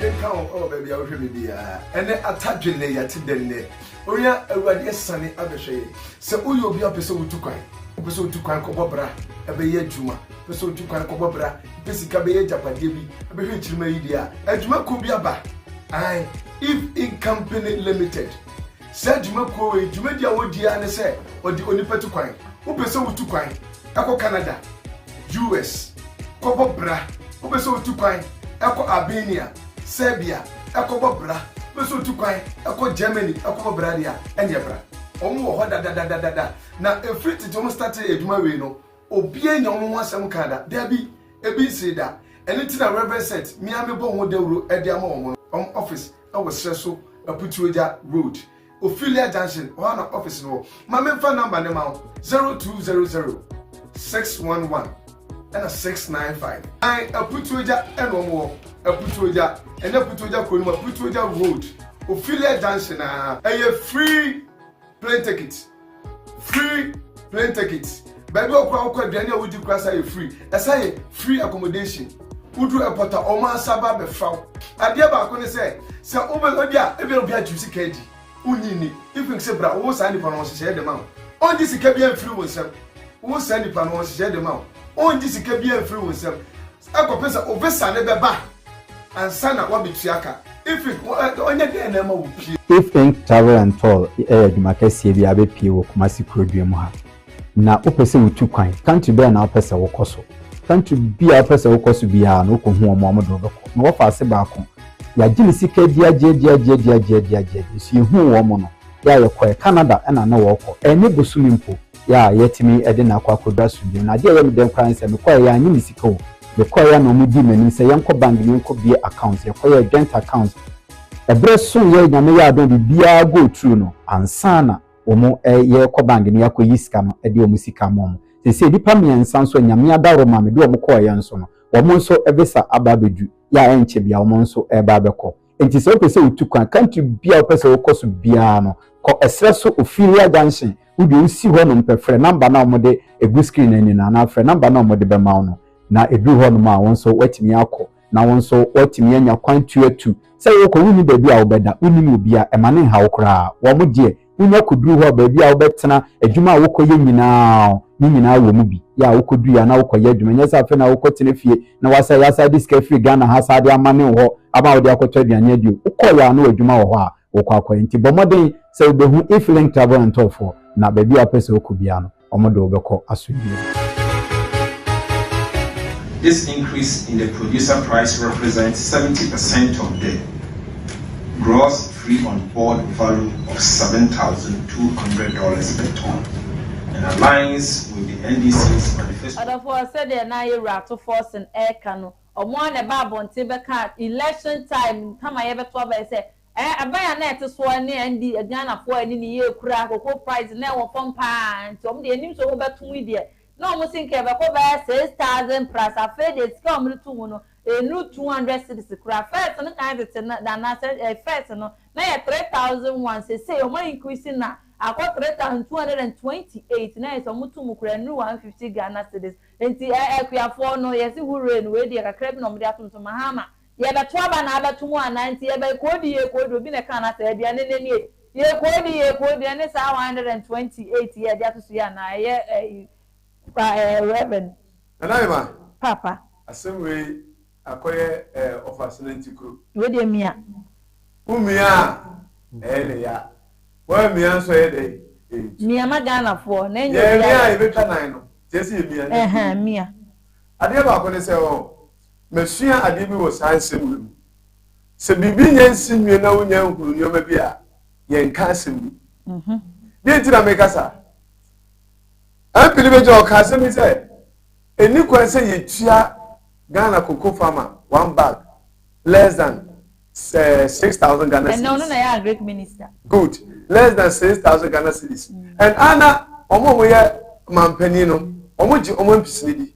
Akodeɛ nka wo ɛwɔ baabi a wohwɛ me biara. Ɛnɛ ata dwe nnɛ yɛte dɛ nnɛ. Onua Awurade asiane abɛhwɛ yɛn. Sɛ woyɛ obi a wopɛ sɛ wotu kwan, wopɛ sɛ wotu kwan kɔbɔ bra, ɛbɛyɛ adwuma, wopɛ sɛ wotu kwan kɔbɔ bra, wopɛ sika bɛyɛ agyapadeɛ bi, ɛbɛhwɛ kyirima yi deɛ a, adwuma kuo bi aba. Ae, Eve Incompany Limited. Saa dwumakuo wei dwumadi a wɔdi ara ne sɛ wɔde onipa tu kwan. Wopɛ sɛ wotu kwan kɔ Canada, US. kɔbɔ bra, wopɛ sɛ wotu kwan kɔ Albania, Serbia kɔbɔ bra, wopɛ sɛ wotu kwan kɔ Germany kɔbɔ bra deɛ a, ɛneɛ bra. Wɔn wɔ hɔ dadadadada. Na ɛfiri tete wɔn startee adwuma wei no, obiara nya wɔn ho asɛm kaa da. Dabi, ebi nsee da. Ɛno nti na Rev. Seth, me ara mebɔ ho dawuro de ama wɔn no, wɔn office. ɛwɔ serɛ so aputuagya road ophelia junction hɔ ana office no wɔ ma memfa number no ma wo 0200 611 ɛna 695 an aputuagya ɛna ɔmo wɔ aputuagya ɛnyɛ aputuagya kuro no mu aputuagya road ophelia junction a ɛyɛ free plane ticket free plane ticket baabi a ɔkura ɔkɔ aduane a wodi kura sa yɛ free ɛsa yɛ free accommodation wodu airport a wɔn ansa ba abɛfra wo adeɛ baako ne sɛ sɛ wobɛ ebi a ebi a obi agye sika adi wonyi ni if you say bra wo saa nipa no ɔhyehyɛ dɛm ahụ ɔngye sika bi amfiri wo nsam wo saa nipa no ɔhyehyɛ dɛm ahụ ɔngye sika bi amfiri wo nsam Ɛkɔpem sɛ obesane bɛba ansa na wabetua ka. Ifink, Ɔnyɛ dɛn na ɛma wopie? Ifink Travel and Tour yɛ adwuma kɛseɛ bi a abepie wɔ Kumasi kurodua mu ha. Na wopɛ sɛ wutu kwan? Country bɛn na wopɛ sɛ wokɔ so? Country bi a wopɛ sɛ wokɔ so biara no, wokɔhu wɔn a wɔde wo bɛkɔ. Na wɔfa ase baako. Yɛagye ne sika diagyeɛdiagyeɛdiagyeɛdiagyeɛ. Nso yɛhuu wɔn no, yɛ a yɛkɔɛ. Canada na na wɔrekɔ. Ɛnyɛ bosome mpo. yɛ a yɛtumi de no akɔ akɔduru asomdwoe no, adeɛ a ɛyɛ me dɛ koraa ne sɛ mekɔeɛ, yɛannye me sika o, mekɔeɛ a na wɔdii m'anim sɛ yɛnkɔ bank na yɛnkɔbue account, yɛkɔyɛɛ joint account, ɛberɛ soeɛ, Nyame yɛɛ adom a biribiara go through no ansa na wɔn ɛ, yɛrekɔ bank na yɛakɔyi sika no de wɔn sika ama wɔn. Seesei nnipa mmiɛnsa nso a Nyame adaworo ma me de wɔn kɔeɛ nso no, wɔn nso visa aba abɛduru, yɛ a ɛnkyɛ biara wɔn nso reba abɛkɔ. Enti sɛ wopɛ sɛ wutu kwan, country biara a wopɛ sɛ wokɔ so biara no, kɔ ɛserɛ so Ophelia Junction, wo deɛ wusi hɔnom pɛ, frɛ number no a wɔde agu screen no ani no anaa frɛ number no a wɔde bɛma wo no, na ɛduru hɔnom a, wo nso woatumi akɔ, na wo nso woatumi anya kwan tu atu. Sɛ worekɔ, wonni baabi a wobɛda, wonnim obiara, ɛma no nha wo koraa. Wɔn deɛ. Wunya koduru hɔ a, baabi a wobɛtena, adwuma a wokɔyɛ nyinaa, ne nyinaa wɔ mu bi. Yɛ a wokodui a, na wokɔyɛ adwuma. Ɛnyɛ sɛ afei na wokɔtena fie na woasɛe, asan de sika afiri Ghana ha san de amane wo hɔ ama wode akɔtɔ aduane adi o. Wokɔeɛ a, na w'adwuma wɔ hɔ a wokɔ akɔyɛ. Nti bɔ mmɔden sɛ wubehu Efiling Travel and Tour foɔ na baabi a wopɛ sɛ wokɔ biara no, wɔde wo bɛkɔ asomdwoe mu. This increase in the producer price represents seventy percent of the gross free on board value of seven thousand two hundred dollars per ton and aligns with the NDC's manifesto. Ɔdɔfoɔ, sɛdeɛ na yɛ wura Ato Forson ɛreka no, wɔn ara na ɛbaa abɔnten bɛkaa election time kama yɛbɛto aba yi sɛ, Ɛban a na ɛte soɔ ne ɛnde Ghanafoɔ ani ne yie kura cocoa price na ɛwɔ fam pa ara nti wɔn deɛ yɛnim sɛ wɔn bɛto mu yi deɛ na wɔn se nka ɛbɛkɔ bɛyɛ six thousand plus afei deɛ sika a wɔn de to mu no ɛnuru two hundred cedis koraa first no kan tete no anaasɛ ɛɛ first no na ɛyɛ three thousand one seisei wɔn a increase no akɔ three thousand two hundred and twenty eight na ayɛ sɛ wɔn to mu koraa ɛnuru one fifty Ghana cedis nti ɛɛ Akuafoɔ no yɛse hurray no wei deɛ kakra bi na wɔn de ato mu so Mahama Yɛbɛto aba na abɛto mu anaa nti yɛbɛkoodi yɛkoodi obi na ɛkaa no asɛ aduane nnɛ nie yɛkoodi yɛkoodi ɛne saa 128 yɛ ɛde atoso yi anaa ɛyɛ ɛyi kwa ɛɛ Rev. Nana Emma. Paapa. Asɛm wei akɔyɛ ɛɛ ɔfase no nti kuro. Wei deɛ mia. Wo mia a ɛyɛ ne ya woan mia nso ɛyɛ dɛn ɛntu. Mia ma Ghana foɔ na ɛnyɛ obiara. Yɛn mia a yɛbɛtwa nan no nti ɛsɛ yɛ mia na ɛntu. Ɛhɛn mia. Adeɛ baako ne sɛ ɔɔ Masua adeɛ bi wɔ saa nsɛm wei mu. Sɛ biribi nyɛ nsi nwie na wonya nhunu nneɛma bi a, yɛnka asɛm bi. Deɛ nti na meka saa? MP no bɛgya ɔka asɛm bi sɛ, ɛni kwan sɛ yɛtua Ghana cocoa farmer one bag less than sɛ six thousand Ghana cedis. Ɛnna ɔno na ɛyɛ agric minister. Good. Less than six thousand Ghana cedis. And ana wɔn a wɔyɛ manpanin no, wɔgye wɔn mpisini di?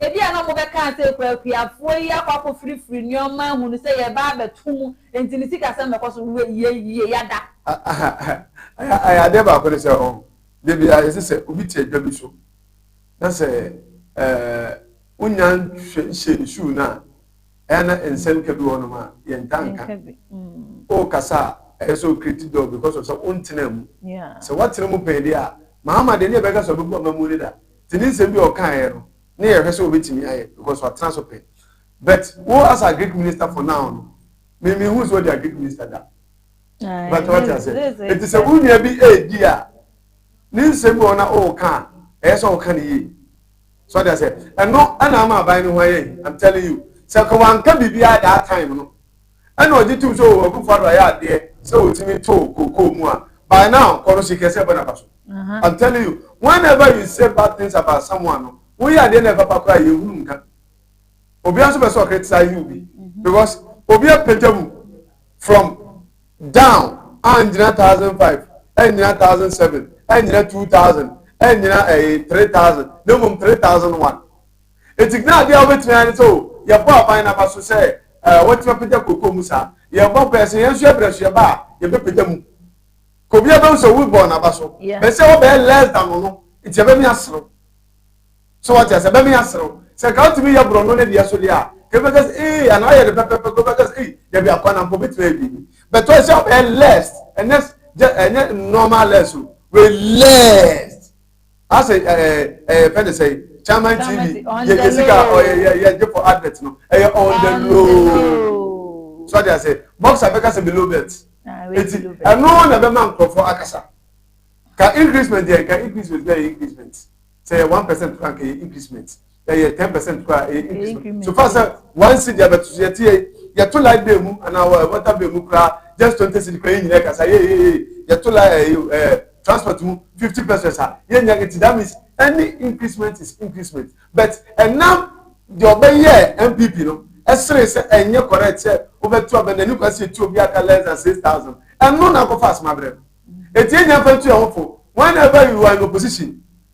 Ebia na wɔbɛka sɛ, Kɔ akuafoɔ yi akɔ akɔfirifiri nneɛma ahu no sɛ yɛreba abɛto mu, enti ne sikasɛm bɛkɔ so. Wei yɛ yie, yɛada. Adeɛ baako ne sɛ, da biara yɛsɛ sɛ obi te adwa bi so na sɛ wonnya nhyɛɛ ne suu no a, ɛyɛ a na nsɛnka bi wɔ hɔnom a yɛntaa nka. Wokasa a, ɛyɛ sɛ wo create door because of sɛ wontenaa mu. Sɛ woatena mu pɛn deɛ a, Mahama deɛ ne yɛbɛka sɛ ɔbɛbu amammuo no da. Nti ne nsɛm bi a ɔkaeɛ no ne yɛhwɛ sɛ ɔbɛtumi ayɛ because watena so pɛ. But wo as a Greek minister for now no, me menhuu sɛ ɔde a Greek minister da. But wate aseɛ. Nti sɛ wo nua bi ɛredi a, ne nsɛm bi wɔ hɔ na ɔreka a, ɛyɛ sɛ ɔka ne yie. So wate aseɛ. Ɛno ɛna ama aban no ho ayɛ hi. I'm telling you. Sɛ ka wanka biribiara that time no, Ɛna ɔgye tom sɛ oh Akufo Addo ayɛ adeɛ sɛ ɔtumi too kookoo mu a by now kɔ no sikɛseɛ bɛ na ba so. I'm telling you whenever you say bad things about someone no woyɛ adeɛ na ɛpapa koraa a yɛhunu nka. Obia nso pɛ sɛ ɔcriticize wo bi because obi apagya mu from down annyina thousand five annyina thousand seven annyina two thousand annyina ɛɛ three thousand na mmom three thousand one. Enti na adeɛ a wobɛtumi ayɛ ne sɛ o, yɛbɔ aban no aba so sɛ eh, wɔatumi apagya kooko mu saa. Yɛbɔ mpaeɛ sɛ yɛn nso yɛbrɛ so yɛba a, yɛbɛpagya mu. Ka obiara bɛhu sɛ wobɔɔ no aba so. Yeah. Bɛsɛ wobɛyɛ less than ɔno, nti ɛbɛme aserew. So wate asɛ, ɛbɛme aserew. Sɛ nka wotumi yɛ borɔno no deɛ so deɛ a, ka bi bɛka sɛ ee, anaa ɔyɛ no pɛpɛpɛ, ka bɛka sɛ ei, dabi akwa na mpo bɛtumi ayɛ biribi. Bɛtɔ ɛsɛ wobɛyɛ less, ɛnyɛ, ɛnyɛ normal less o, wei less. asɛ ɛɛ ɛɛ fɛn de sɛ chairman tv yɛ yɛ sika ɔyɛ yɛ yɛ gye for advert no ɛyɛ on the low so adi asɛ boxer bɛka sɛ below belt eti ɛno na bɛma nkorɔfoɔ akasa ka increasement yɛ ka increasement yɛ increasement sɛ yɛ one percent kura nka yɛ increasement. ɛyɛ ten percent koraa ɛyɛ increment so far sɛ one cedi abɛto so yɛte yɛ yɛto light bill mu anaa water bill mu koraa just twenty cedi koraa yɛ nyinaa kasa yɛ yɛ yɛ yɛto light ɛɛ eh, ɛɛ eh, transport mu fifty percent a yɛ nyinaa nti that means any increment is increment but ɛnam deɛ ɔbɛyɛ npp no ɛsere sɛ ɛnyɛ correct sɛ wobɛto abɛ n'ani kwa sɛ etu obi aka less than six thousand ɛno na akɔfa asoma brɛ no eti yɛ nyinaa fa ntu yɛn ho fo whenever you are in opposition.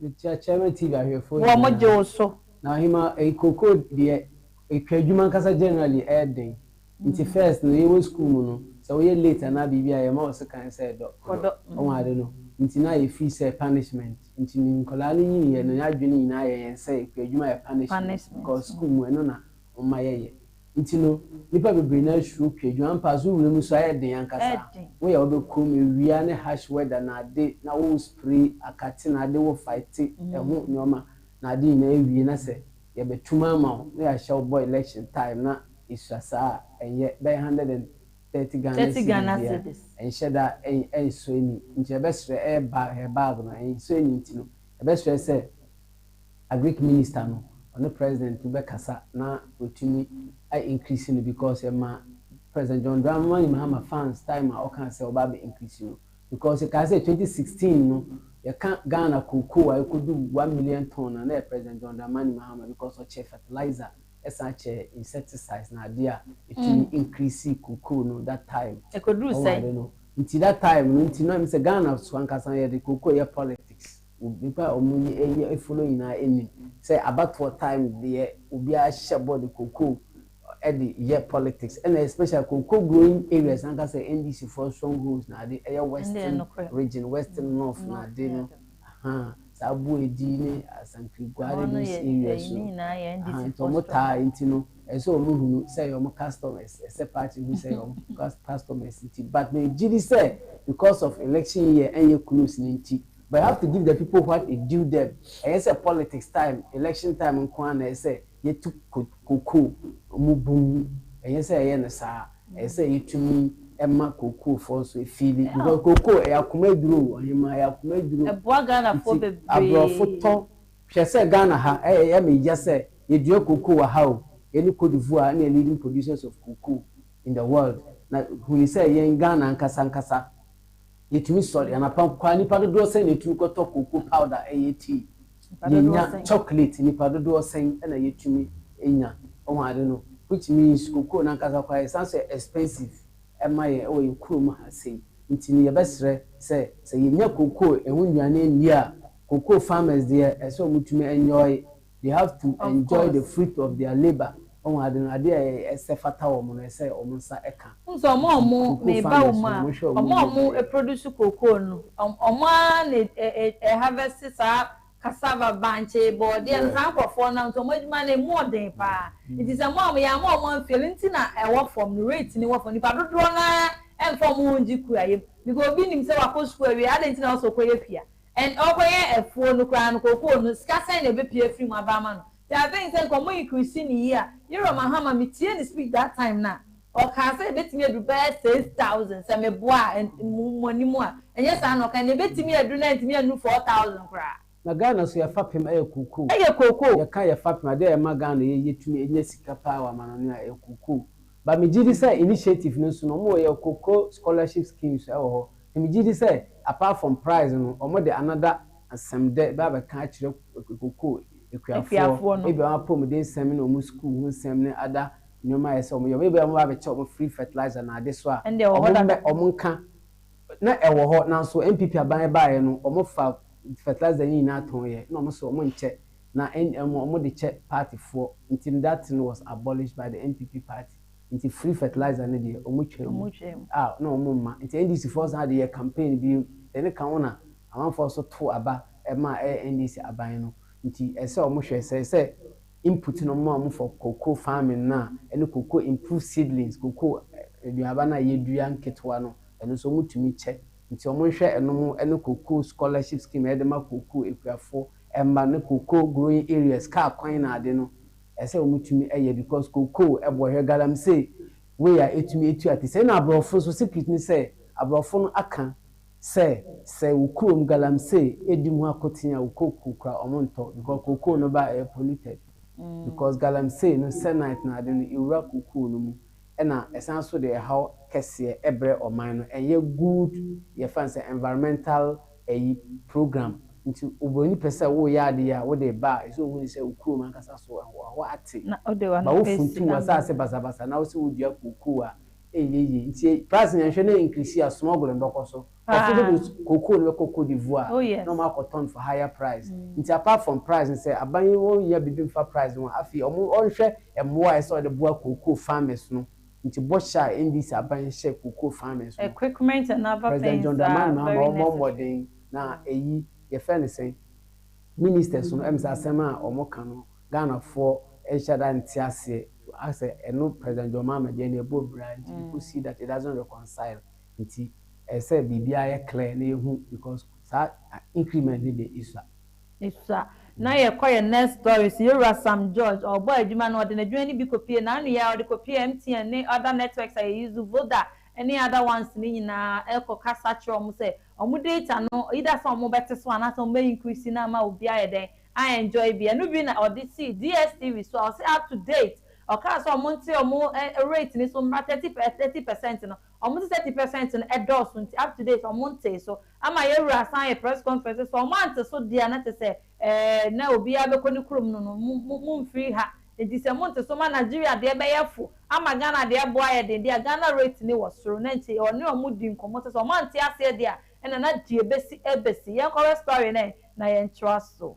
Mekyia Chairman TV ahwɛfoɔ nyinaa. Wɔn gye wo so. Na Ɔhema eyi kookoo deɛ etwa adwuma ankasa generally ɛyɛ den nti first no yɛwɔ school mu no sɛ woyɛ late anaa biribi a yɛma wo sekan sɛ dɔ ɔdɔ ɔho ade no nti na yɛ feel sɛ punishment nti ne nkwadaa no nyiniiɛ no yɛn adwene nyinaa yɛ yɛn sɛ ekua adwuma yɛ punishment because school mu ɛno na wɔma yɛyɛ. nti no, nnipa bebree no ara suro pue. Joan Pass, wo wuram nso ayɛ den ankasa. Woyɛ a wobɛ kurom awia ne harsh weather na ade na wo spray akate na ade wo fighte ɛho nnoɔma na ade nyinaa awie na sɛ yɛbɛ tum ama wo na yɛahyɛ wo bɔ election time na ɛsua saa a ɛnyɛ bɛyɛ hundred and thirty Ghana cedi deɛ a ɛnhyɛ da ɛnsɔ ani nti ɛbɛsrɛ ɛyɛ bag, ɛyɛ bag no ɛnsɔ ani nti no ɛbɛsrɛ sɛ Agric minister no ɔne president bɛkasa na watumi a increase no because ɛma president John Dramani Mahama fans time a ɔkaa sɛ ɔbɛ abɛ increase no because yɛkae sɛ 2016 no yɛka Ghana cocoa a ɛkɔdu one million ton a na ɛyɛ president John Dramani Mahama because ɔkyɛɛ fertilizer ɛsan kyɛɛ insecticides na adeɛ a ɛtumi increase cocoa no that time ɛkɔduru sɛn? Nti that time no nti na ɛm sɛ Ghana so ankasa yɛde cocoa yɛ politics. Nnipa a wɔn ani yɛ fo no nyinaa nim sɛ abatoɔ time deɛ obiara hyɛ bɔ de kokoo de yɛ politics ɛna especially kokoo growing areas ankasa NDC foɔ strong holds na ade ɛyɛ western region, western north na ade no ahaa saa Aboadi ne Asantwi Guare those areas no ahaa nti wɔn taa nti no ɛsɛ sɛ wɔn hunu sɛ ɛyɛ wɔn customers ɛsɛ sɛ party hu sɛ ɛyɛ wɔn customers nti but me gyidi sɛ because of election year ɛnyɛ close no nti But you have to give the people what is due them, ɛnyɛ sɛ politics time, election time nko ara na ɛsɛ sɛ yɛtu kookoo mu bum, ɛnyɛ sɛ yɛyɛ no saa, ɛsɛ sɛ yɛtumi ma kookoofoɔ nso feeli, because kookoo ɛyɛ akoma aduro o, ɔhemaa, ɛyɛ akoma aduro, Ɛboa Ghanafoɔ nti bebree. aborɔfo tɔ, hwɛ sɛ Ghana ha, ɛyɛ me ya sɛ yɛdua kookoo wɔ ha o, yɛne Cote d'Ivoire ne yɛ leading producers of cocoa in the world, na hunu sɛ yɛn Ghana ankasa ankasa, Yetumi sɔre anapa nko a, nnipa dodoɔ sɛn na etumi kɔtɔ cocoa powder yɛ tea? Yenya chocolate nnipa dodoɔ sɛn na yetumi nya? Wahu ade no? Which means cocoa no ankasa koraa ɛsan so yɛ expensive ma yɛn wɔ yɛn kurom ha sei. Nti no yɛbɛsrɛ sɛ, sɛ yenya cocoa ɛho nnuane nni a, cocoa farmers deɛ ɛsɛ sɛ wɔtumi enjoy They have to enjoy the fruit of their labour Wahu ade no, ade a ɛsɛ fata wɔn no, ɛsɛ wɔn nsa ka. Wohu sɛ wɔn a wɔn, meba wo mu a, wɔn a wɔn produce cocoa no, wɔn ara na ɛ, harvest saa cassava, bankye, bɔɔdeɛ no, saa nkorɔfoɔ no, nti wɔn adwuma no, ɛmu ɔden paa. Nti sɛ mo a mo, yɛama wɔn unfairly, nti na ɛwɔ fam no, rate no wɔ fam, nipa dodoɔ no ara mfa wɔn ho ngye kuayɛ mu, because obi nim sɛ wakɔ sukuu awie, adɛn nti na ɛwɔ sɛ ɔkɔyɛ pia? And ɔkɔyɛ afuo no koraa no kookoo no sika sɛn na ɛbɛpie afiri mu aba ama no nti I think sɛ nka ɔmo increase ne yie a Yerɔ Mahama me tiee ne speech that time no a ɔkaa sɛ ɛbɛtumi aduru bɛyɛ six thousand sɛ me boa a mo anim a ɛnyɛ saa na ɔkae na ɛbɛtumi aduru na antumi annuru four thousand koraa. Na Ghana so yɛ fapem ɛyɛ kookoo. Ɛyɛ kookoo. Yɛ ka yɛ fapem a dɛ ɛma Ghana yɛ yɛ tumi nya sika paa wɔ amanɔne a ɛyɛ kookoo but me gyedi sɛ initiative no nso no ɔmo wɔ yɛ kookoo scholarship schemes ɛwɔ hɔ Na megye di sɛ apart from prize no ɔmo de another asɛm dɛ bɛ abɛka akyerɛ kokoo akuafoɔ Akuafoɔ no. ebia wɔn apɔmuden nsɛm ne wɔn sukuu ho nsɛm ne other nnoɔma a ɛsɛ wɔn yɛ wɔn ebia wɔn ba abɛkyɛ wɔn free fertilizer na ade so a Ɛnde ɛwɔ hɔ wɔn dada. mmɛ wɔn nka na ɛwɔ hɔ nanso NPP aban ɛbaeɛ no wɔn fa fertilizer yi nyinaa tɔn yɛ na wɔn se wɔn nkyɛ na wɔn de kyɛ party foɔ nti that thing was abolished by the NPP party. Nti free fertilizer no deɛ ɔmo twa mu a na ɔmo mma. Nti NDC foɔ san de yɛ campaign biom. Dɛne ka ho na amanfoɔ so too aba ɛma ɛyɛ NDC aban no. Nti ɛsɛ ɔmo hwɛ sɛ sɛ input no ɔmo ma ɔmo for cocoa farming no a ɛne cocoa improved seedlings cocoa aduaba no a yɛdua nketewa no ɛno nso ɔmo tumi kyɛ. Nti ɔmo nhwɛ ɛnom ɛne cocoa scholarship scheme a yɛde ma cocoa akuafoɔ mma ne cocoa growing areas car kwan na ade no. ɛsɛ wɔn tumi yɛ because kokoo, ɛbɔhwɛ, galamsey wei a ɛtumi ɛtu ate sɛi na abrɔfo nso secret ne sɛ abrɔfo no aka sɛ sɛ wo kurom galamsey ɛdi mu akoten a wo kokoo kora wɔn ntɔ because kokoo no ba a ɛyɛ polluted because galamsey no sɛ night no ade no ɛwura kokoo no mu. ɛna ɛsan so de ɛhaw kɛseɛ ɛbrɛ ɔman no ɛnyɛ good yɛfa no sɛ environmental ɛyi program nti obroni pɛ sɛ woyɛ ade yi a wode ba a ɛsɛ ohunu sɛ wo kurom ankasa so ɛhɔ ate ba wo funtum w'asaase basabasa na wo se wo dua kookoo a ɛnyɛ yie nti price no yɛnhwɛ na increase a smugling bɛkɔ so. Ɔfo no de cocoa no bɛkɔ Côte d'Ivoire na wɔn akɔ tɔn for higher price. Nti apart from price no sɛ aban yi wɔn nyɛ biribi nfa price no ho afei wɔn wɔnhwɛ mmoa a ɛsɛ sɛ wɔde boa cocoa farmers no. Nti bɔhyɛ a NDC aban yi hyɛ cocoa farmers no. Equipment and other things are very necessary. President John Dramani Mahama wɔn mɔ mmɔden na ɛyi yɛfrɛ no sɛn ministers no ɛm sɛ asɛm a wɔn ka no Ghana foɔ nhyɛ da nte aseɛ asɛ ɛno President John Mahama deɛ ɛna ɛbɔ bra nti you could see that it doesn't reconcile. nti ɛsɛ sɛ biribiara yɛ clear na yɛhu because saa increment no deɛ ɛsua. Ɛsua. Na yɛkɔ yɛn next story so, yɛwura Sam George, ɔrebɔ adwuma no, ɔde n'adwuma no bi kɔpue n'anoyɛ a ɔde kɔpue MTN ne other networks a yɛ use, Voda ne other ones no nyinaa ɛkɔ kasa kyerɛ wɔn sɛ wɔn data no either sɛ wɔn bɛte so anaasɛ wɔn bɛ increase no ama obi ayɛ dɛn a enjoy bi. Ɛno bi na ɔde sii DSTV so a ɔse up to date ɔkaa sɛ wɔn nte wɔn rate no so mmra thirty per thirty percent no. wɔn te thirty percent no ɛdɔɔso nti up to date wɔn ntee so ama yɛn wura asan ayɛ press conference sɛ wɔn ante so deɛ a na te sɛ ɛɛɛ na obiara bɛkɔ ne kurom no no mo mo mfiri ha nti sɛ mo nte so ma Nigeria deɛ bɛyɛ fo ama Ghana deɛ ɛbo ayɛ den deɛ a Ghana rate ne wɔ soro na nti wɔne wɔn di nkɔmɔ sɛ sɛ wɔn ante aseɛ deɛ a ɛna na deɛ ɛbɛsi ɛbɛsi yɛn kɔhwɛ story no ɛ na yɛn toa so.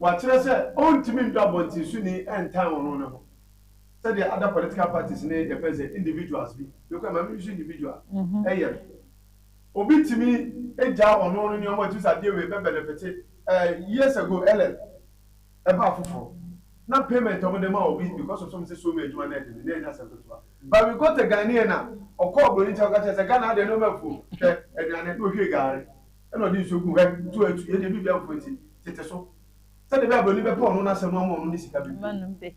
Wakyerɛ sɛ ɔntumi ntɔ abɔntensoni ntan ɔno ne ho sɛdeɛ other political parties ne yɛfrɛ no sɛ individuals bi, because maame no nso individual yɛ no. Obi tumi gyaa ɔno ne nneɛma a ɔtumi sɛ adeɛ wei bɛ benefite eh, years ago LL ɛbaa afoforɔ na payment a wɔde ma obi because of some sɛ so mu adwuma na ɛde no na ɛnyɛ asɛm ketewa but we got a Ghanaian a ɔkɔɔ Buroni nkyɛn kɔka kyerɛɛ sɛ Ghana adeɛ nneɛma afuo hwɛ aduane na ɔhwie gari na ɔde nsuo gu hɔ tu atu yɛ deɛ biribiara mpo nti tete so sɛdeɛ ɛbɛyɛ a buroni bɛpɛ ɔno na asɛm no ama ɔno ne sika bebree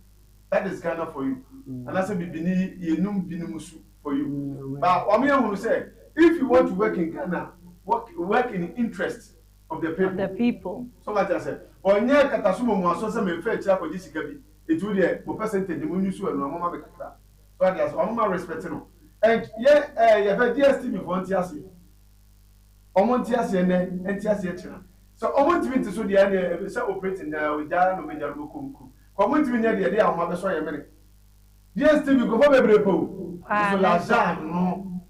that is Ghana for you anaasɛ bibini yɛnum binom su for you ba wɔn yɛ hunu sɛ if you want to work in Ghana work, work in interest of the people, of the people. so wate asɛ ɔnyɛ kataso mɔmuaso sɛ mefa akyiri akɔgye sika bi ɛti wo deɛ mo percentage mo nyusu ɛno a moma me kakra so wate asɛ wɔn ma respect no and yɛ ɛɛ yɛbɛ DSTV foɔ nte aseɛ Wɔn nteaseɛ nnɛ nteaseɛ kyena. Sɛ wɔn ntumi nte so deɛ ɛnneɛ ɛbɛ sɛ operating daa ogya ara na wɔn agya no bɛkɔ mu kuro. Ka wɔn ntumi nyɛ deɛ ɛde ahoma bɛsɔ yɛn mene. DSTV nkurɔfoɔ bebree pɛ o. Nso Lajan no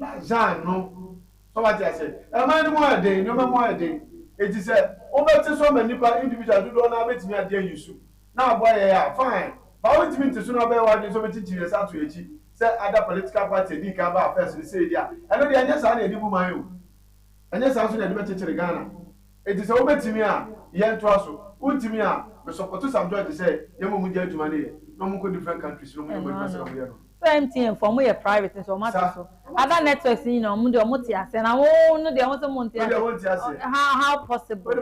Lajan no sɛ wate aseɛ. Ɛman no mu ayɛ den, nneɛma mu ayɛ den. Enti sɛ wobɛte so ama nnipa individual dodoɔ no ara bɛtumi agye ayi su. na aboa yɛn a, fine. But wontumi nte so na wobɛyɛ w'adwene sɛ wobɛkyinkyin yɛn nsa ato yɛn akyi sɛ other political party a ɛdii kan baa first no sei deɛ a, ɛno deɛ ɛnyɛ saa na yɛde bu man o. Ɛnyɛ saa nso na yɛde bɛkyekyere Ghana. Enti sɛ wobɛtumi a, yɛntoa so. Wontumi a, me sɔpɔto Sam George sɛ yɛmmɔ mogya adwuma no yɛ na wɔnkɔ different countries na wɔnyɛ wɔn adwuma sɛdeɛ wɔyɛ no no. Sɛ MTN fo ɔmo yɛ private nso ɔmo ate so. Other networks no nyinaa ɔmo deɛ ɔmo te aseɛ na mo no deɛ mose mo nte aseɛ how how possible.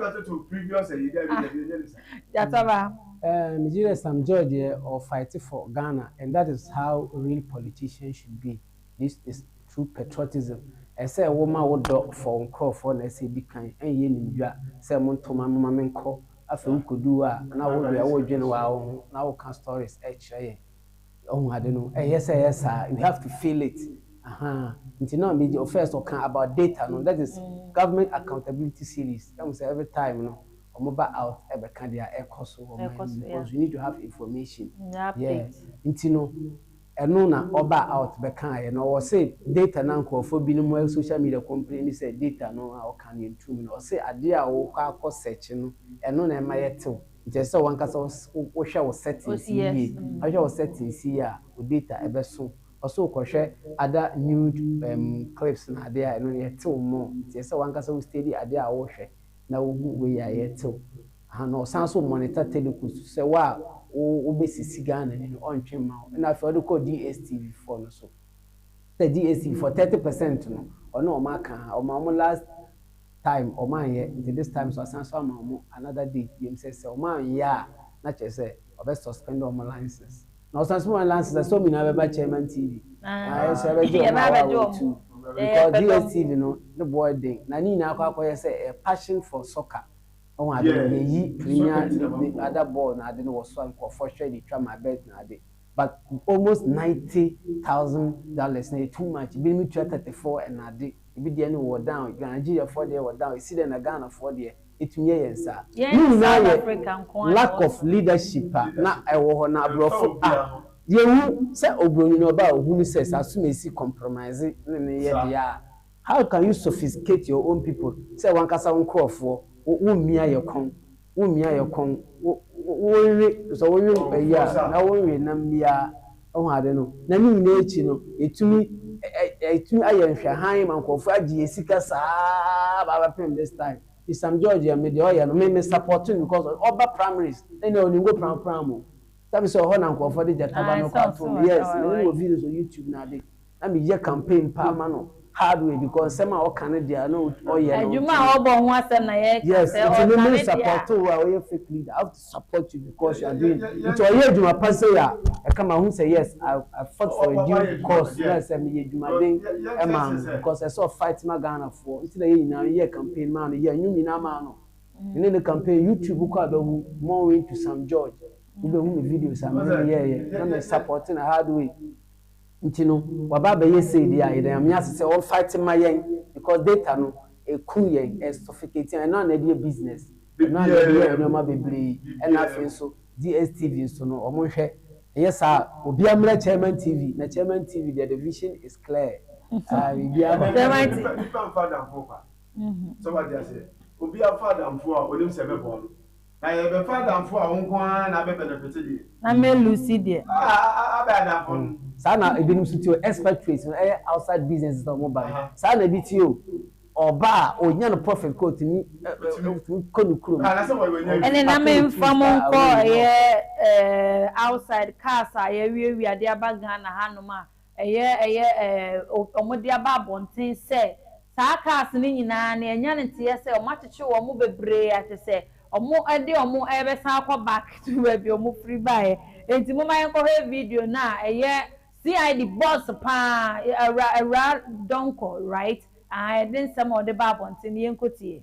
Gyataba. Ehm me gyidɛ Sam George yɛ ɔ fight for Ghana and that is how real politician should be this is true patriotism ɛsɛ wo ma wo dɔ for wo nkorɔfoɔ na ɛsɛ di kan ɛnyɛ nim dwa sɛ mo nto ma me ma me nkɔ afei wo kɔ du hɔ a na wo deɛ wo dwene waa wo ho na wo ka stories ɛkyerɛ yɛn Wahu ade no, ɛyɛ sɛ ɛyɛ saa, you have to feel it, ahaa, nti na me gye, first ɔka about data no, that is government accountability series, ɛhu sɛ every time no ɔmo ba out ɛbɛka deɛ ɛkɔ so wɔ man mu, because you need to have information, yeah, nti no ɛno na ɔbaa out bɛkaeɛ, na ɔwɔ se data no a nkorɔfoɔ bi nom ɛwɔ social media complaini sɛ data no a ɔka no yɛntu mu no, ɔse adeɛ a wokɔ akɔ search no ɛno na ɛma yɛtew, Nti ɛsɛ sɛ wankasa wohwɛ wo settings yie, wohwɛ wo settings yie a wo data ɛbɛso. Ɔse wokɔhwɛ other nude um clips na adeɛ a ɛno no yɛtew more. Nti ɛsɛ sɛ wankasa wo steady adeɛ a wohwɛ na wohu wei a yɛtew. Aha na ɔsan so monitor Teluku so sɛ wo a wo wobɛsisi Ghana ni no ɔntwe mma wo. Ɛna afei ɔde kɔ DSTV foɔ no so. Sɛ DSTV foɔ thirty percent no ɔne wɔn aka a ɔma wɔn last. Time ɔmo anyɛ nti this time so asan so ama ɔmo another date biom sɛ sɛ ɔmo anyɛ a na kyerɛ sɛ ɔbɛ suspend ɔmo license na ɔsan so ma ɔmo license a sɛ ɔmo nyinaa bɛba chairman TV na yɛnso yɛbɛgye ɔmo a wɔawɔ atu because DSTV no ne boɔ ɛden na ne nyinaa akɔ akɔyɛ sɛ ɛyɛ passion for soccer wohu ade no yɛyi premier league ne other ball no ade no wɔ so a nkorɔfoɔ hwɛ de twa ma bet no ade. But almost ninety thousand dollars no yɛ too much, binom tua thirty four and ade, ebi deɛ no wɔ down, Nigeria foɔ deɛ wɔ down, esi dɛn na Ghana foɔ deɛ etumi yɛ yɛn saa? Ne nyinaa yɛ lack of leadership a na ɛwɔ hɔ na aborɔfo a yɛhu sɛ obroni no ɔba a ohunu sɛ sɛ asomasi compromise ne no yɛ dea a how can you sophisticate your own people sɛ wankasa wo nkorɔfoɔ wo mmea yɛ kɔn wo mia yɛ kɔn wo wo we sɛ wo we ayi a na wo we nam biaa wohu ade no na ne nyinaa akyi no yɛtumi yɛtumi ayɛ nhwɛhan ma nkurɔfoɔ agye yɛn sika saa aba abɛpem this time nti Sam George yɛ me deɛ ɔyɛ no me me support no because ɔba primaries ɛnna ɔnim go pram pram o sɛbe sɛ ɔhɔ na nkurɔfoɔ de gyata ba no kɔ atom yes mene no wɔ videos wɔ YouTube na ade. Na me yɛ campaign paa ma no hard way because nsɛm a ɔka no deɛ na ɔyɛ no. Adwuma a ɔbɔ ho asɛm na yɛ ka sɛ ɔtane deɛ a. Yes nti me me support wo a woyɛ fake leader I have to support you because you are doing nti ɔyɛ adwuma pa sei a ɛka ma hu sɛ yes I I fought for a due cause na ɛsɛ me yɛ adwuma den ɛma no because ɛsɛ ɔ fight ma Ghana foɔ nti na yɛ nyinaa yɛ campaign maa no yɛ nnwom nyinaa maa no me ne no campaign YouTube wo kɔ a bɛ hu Mornwin to Sam George wo bɛ hu me videos a me ne no yɛɛyɛ na me support no hard way. Nti no waba abɛyɛ sei deɛ a yɛda Nyame ase sɛ ɔ fight ma yɛn because data no ɛku yɛn, ɛ suffocate yɛn, ɛno a na ɛde yɛ business, ɛno a na ɛde yɛ nnoɔma bebree, ɛna afei nso DSTV nso no ɔmo nhwɛ, ɛnyɛ saa a obiara mmra Chairman TV, na Chairman TV deɛ the vision is clear, ah biribiara kɔ so. Ɛnɛ nipa nipa nfa adamfoɔ kwa, so wate aseɛ, obiara fa adamfoɔ a onim sɛ ɛbɛboa no, Na yɛ bɛ fa adamfo a wo nko ara na abɛ benefite deɛ. Na me Lucy deɛ. Ah ah abɛ adamfo no. Saa na ebinom nso te o, expatriates no ɛyɛ outside businesses na wɔn ba no, saa na ebi te o, ɔba a onya no profit kɔ otumi kɔ ne kurom. Ɛne na me nfa mo nkɔ ɛyɛ outside cars a yɛawiawia de aba Ghana hanom a Ɛyɛ, ɛyɛ, ɛɛ, o, wɔde aba abɔnten sɛ saa cars no nyinaa no, ɛnya ne teɛ sɛ wɔakyekye wɔn bebree a kyerɛ sɛ wɔde wɔn rebɛsan akɔ back to baabi a wɔfiri baeɛ. Enti momma yɛnkɔhwɛ video no a ɛyɛ CID boss pa ara, Awura, Awuraa Donkor, right? Ahaa, ɛde nsɛm a ɔde ba abɔnten no, yɛnkɔtie.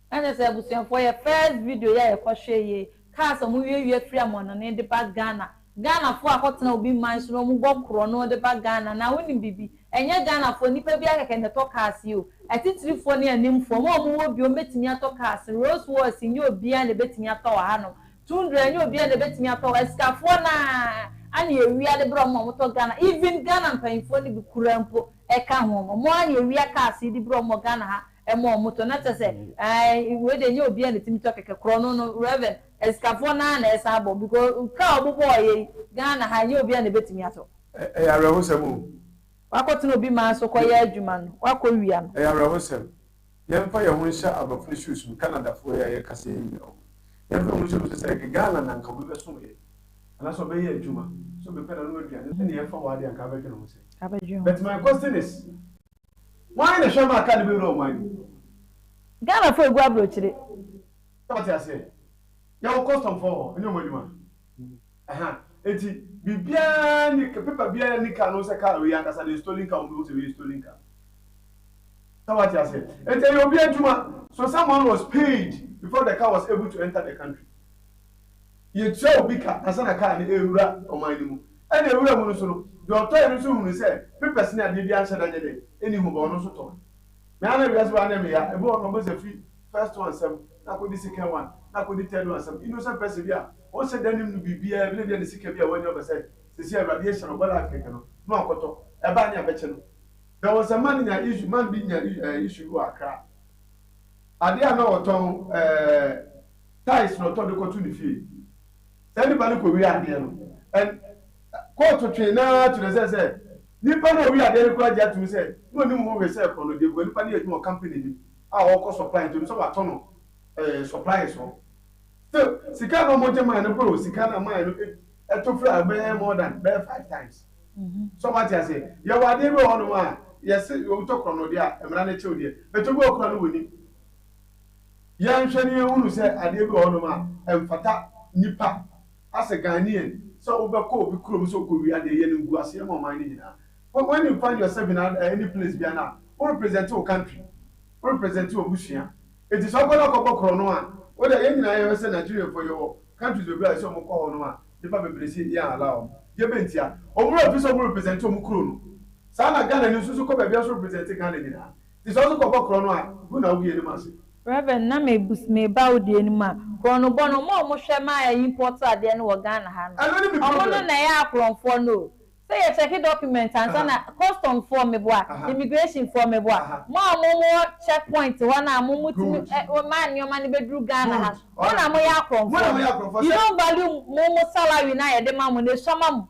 Na kyerɛ sɛ abusuafoɔ yɛ first video yi a yɛkɔ hwɛ yie kaa sɛ ɔmo wie wie firi amoanone de ba Ghana Ghana foɔ a kɔ tena obi man so na ɔmo bɔ korɔ no de ba Ghana na wo nim biribi ɛnyɛ Ghana foɔ nipa biara kɛkɛ na ɛtɔ cars yi o atitire foɔ ne anim foɔ ɔmo a ɔmo wɔ biom bɛtumi atɔ cars Rolls Royce nyɛ obiara na ɛbɛtumi atɔ wɔ ha nom Tundra nyɛ obiara na ɛbɛtumi atɔ wɔ asikafoɔ no ara ana ɛwia de brɛ ɔmo ma ɔmo tɔ Ghana even Ghana mpaninfoɔ no bi koraa mpo ɛka ho ɔmo ara na ɛwia cars yi de brɛ ɔmo wɔ Ghana ha ɛma ɔmo tɔ na kyɛsɛ ae wei deɛ nyɛ obiaa na ɛtumi tɔ kɛkɛ korɔ no no rev asikafoɔ naa na ɛsan bɔ because car a ɔmo bɔɔ yɛ yi Ghana ha nyɛ obiaa na ɛbɛtumi atɔ. Ɛyɛ awerɛhosɛm o. Wakɔ tena obi man so kɔyɛ adwuma no wakɔ wia no. Ɛyɛ awerɛhosɛm. Yɛn mfa yɛn ho nhyɛ abrɔfoɔ shoes mu Canada foɔ yi a yɛ kasa yi nyina ɔmo yɛn mfa yɛn ho nhyɛ ɔmo sɛsɛ ɛyɛ Ghana na nka obi bɛso yɛ anaasɛ ɔbɛyɛ adwuma so bepɛ na nom aduane ɛne yɛn fa hɔ adeɛ anka abɛdwene ho sɛn but my question is Wan na hwɛ ma aka ne bɛwura ɔman no mu. Ghana fo egu abrokyire. Wate aseɛ yɛwɔ custom foɔ hɔ ɛnyɛ ɔmo adwuma ɛha eti biribiara ni paper biara ni car no sɛ car wei ankasa deɛ stolen car ɔmo bɛhu sɛ wei yɛ stolen car sɛ wate aseɛ eti ɛyɛ obi adwuma so someone was paid before the car was able to enter the country Yɛtua obi ka ansa na kaa no rewura ɔman no mu. Ɛna ɛwura mu no nso no, deɛ ɔtɔeɛ no nso hunuu sɛ papers ne adeɛ biara nhyɛ da nyɛ dɛn, nni ho, but ɔno nso tɔeɛ. Me ara na wiase wei anyɛ me ya, ebi wɔ hɔ no ɔbɔ sɛ firi first one nsam na akɔdi second one na akɔdi third one nsam, innocent person bi a ɔnhyɛ da nnim no biribiara bi na ebia ne sika bi a wanya ɔbɛ sɛ seesei Awurade ahyira no, ɔbɔ life kɛkɛ no na wakɔtɔ, ɛba a ne abɛkyɛ no. There was a man nyaa issue, man bi nyaa issue bi wɔ Accra, adeɛ a na ɔtɔn eh, tiles na ɔtɔ de kɔto ne fie. Saa nipa no kɔwie adeɛ no, and kɔɔto twee no ara kyerɛ sɛ sɛ nipa no a ɔwie adeɛ no koraa gye atom sɛ na ɔnim ho hwee sɛ korɔno deɛ because nipa no yɛ adwuma wɔ company no mu a ɔrekɔ supply nti ɔnim sɛ wɔatɔ no ɛɛ supplies hɔ. Still, sika no a wɔgye mae no boro sika no a mae no ɛto firi a ɛbɛyɛ more than bɛyɛ five times. So wate aseɛ? Yɛwɔ adeɛ bi wɔ hɔnom a yɛse wotɔ korɔno deɛ a mmara no kye wo deɛ but obi wɔ hɔ koraa no ɔnim. Yɛnhwɛ na yɛnhunu sɛ adeɛ bi wɔ hɔnom a ɛmfata nnipa, as a Ghanaian, sɛ wobɛkɔ obi kurom sɛ wokɔwia adeɛ, yɛ no nkuaseɛ ma ɔman no nyinaa. Wh when you find yourself in a any place biara no a, wo represent wo country, wo represent w'abusua. Nti sɛ wokɔ na wokɔbɔ korɔno a, wo deɛ yɛn nyinaa yɛhwɛ sɛ Nigerianfoɔ yɛwɔ countries bebree a ɛsɛ sɛ wɔkɔ hɔnom a nnipa bebree se yɛn allow wɔn. Deɛ ɛbɛn ntia? Wɔn werɛ mfi sɛ wɔn represent wɔn kuro no. Saa na Ghanani nso so kɔ baabiara nso represent Ghana nyinaa. Nti sɛ ɔdze kɔbɔ krɔn a, gu na ogu yɛnemu ase. Rev. Na mebus meba wo deɛ no mu a, krɔnobɔ no, ɔmo a ɔmo hwɛ ma yɛ import adeɛ no wɔ Ghana ha no, Ɛno ne me ɔmo no problem. na ɛyɛ akorɔnfoɔ no o. Sɛ yɛ check document ansa na, Aha. custom foɔ meboa, Aha. immigration foɔ meboa, Aha. mo a mo wɔ check point hɔ no a mo mo tumi Good. ɛ, ma nneɛma no bɛduru Ghana ha Good. no, mo na Alright. moyɛ Mo na akorɔnfoɔ moyɛ no. akorɔnfoɔ. You Sɛ. don't value mo mo salary no a yɛde ma mo no, esua ma mo.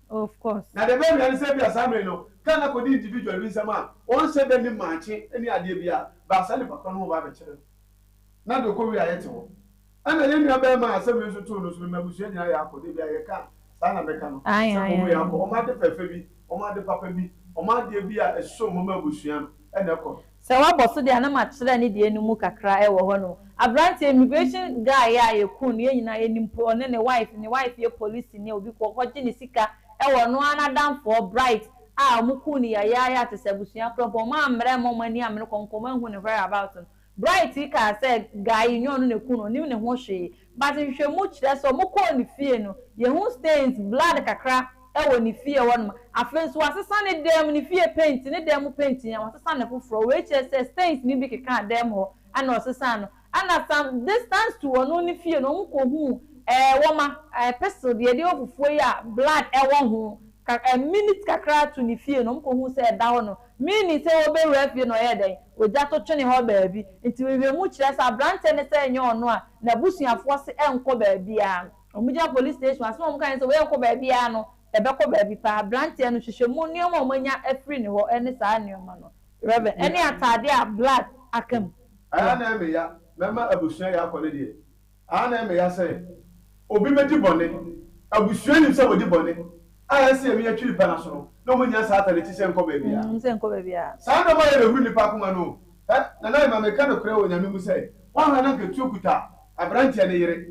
Of course. Na deɛ ɛbɛwia ne sɛ ebia saa mmere no car no akɔdi individual bi nsam a ɔnhyɛ da nnim maakye ne adeɛ biara but saa nipa korɔ no ɔba abɛkyere no na deɛ ɔkɔwie a yɛte hɔ. Ɛna yɛn nua barima a asɛm wei nso too no nso no m'abusua nyinaa yɛ akɔ dabi a yɛka a saa na mɛka no Ae sɛ ae wɔn yɛ ae. akɔ wɔn ade fɛɛfɛ bi wɔn ade papa bi wɔn adeɛ bi a ɛsom wɔn abusua no ɛna ɛkɔ no. Sɛ wabɔ so de a na makyerɛ ne deɛ no mu kakra wɔ hɔ no. Abranteɛ immigration guy yi a yɛkuu no yɛn nyinaa yɛnim mpo ɔne ne wife, ne wife yɛ polisini a obi kɔ hɔ gye ne sika wɔ ɔno ara n'adamfoɔ Bright a wɔkuu no yayaayaa te sɛ abusua korɔ mpo ɔmaa mmrɛ mma wɔn ani ammere kɔnkɔn wɔanhu ne whereabout no. Bright yi kaa sɛ guy yi nyɛ ɔno na ɛkuu no ɔnim ne ho hwee. But nhwehwɛmu kyerɛ sɛ ɔmo kɔɔ ne fie no, yɛhu stains, blood kakra wɔ ne fie hɔ nom. Afei nso w'asesa ne dan mu, ne fie paint, ne dan mu paint nyinaa w'asesa no foforɔ. Wei kyerɛ sɛ stains no bi kekaa dan mu hɔ ɛna ɔsesaa no. Ɛna some distance to ɔno ne fie no ɔmo kɔ huu ɛɛ wɔma, ɛɛ pestle deɛ yɛde yɛ fufuo yi a blood ɛwɔ ho, ka ɛɛ minutes kakra to ne fie no ɔmo kɔ huu sɛ ɛda hɔ nom. Minni sɛ wobewura fie no ɔyɛɛ dɛn? Ogya to twene hɔ baabi. Nti nhwehwɛmu kyerɛ sɛ aberante no sɛ ɛnyɛ ɔno a, n'abusuafoɔ se ɛnkɔ baabiara. Wɔgyina police station. Asɛm a wɔkae ne sɛ wei ɛnkɔ baabiara no, ɛbɛkɔ baabi paa. Aberanteɛ no, hwehwɛmu nneɛma a wɔanya afiri ne hɔ ne saa nneɛma no. Rev. Ɛne ataadeɛ a blood aka mu no. Ɛyɛ anaa meya, mɛma abusua yɛ akɔ ne deɛ. Aane ɛmɛ ya sɛ obi bɛdi bɔne, abusua nim sɛ wɔdi bɔne a ɛsɛ yɛ me yɛ twiri pɛ no aso no, na wɔn nnya saa atade ti sɛ nkɔ baabi a. Wɔn sɛ nkɔ baabi a. Saa nneɛma yɛ bɛhuru nnipa akoma no o. Hɛ, Nana Emma meka nokorɛ wɔ Nyame mu sɛ, woanhwɛ na nka tuo kuta abranteɛ no yere,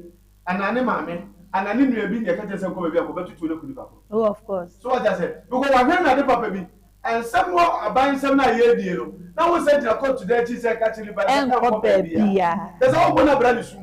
anaa ne maame, anaa ne nua bi na yɛka kyerɛ sɛ nkɔ baabi a, kɔ bɛtotoɔ no aku nnipa korɔ. Oh of course. So wate aseɛ, because wahwɛ no ade papa bi, Ɛnsɛ mo aban nsɛm no a yɛredie no na wo nsa gyina kɔɔtu dan akyi sɛ ɛka kyerɛ nipa no sɛ ɛnkɔ baabiaa. Kyerɛ sɛ wobɔ no abira ne su.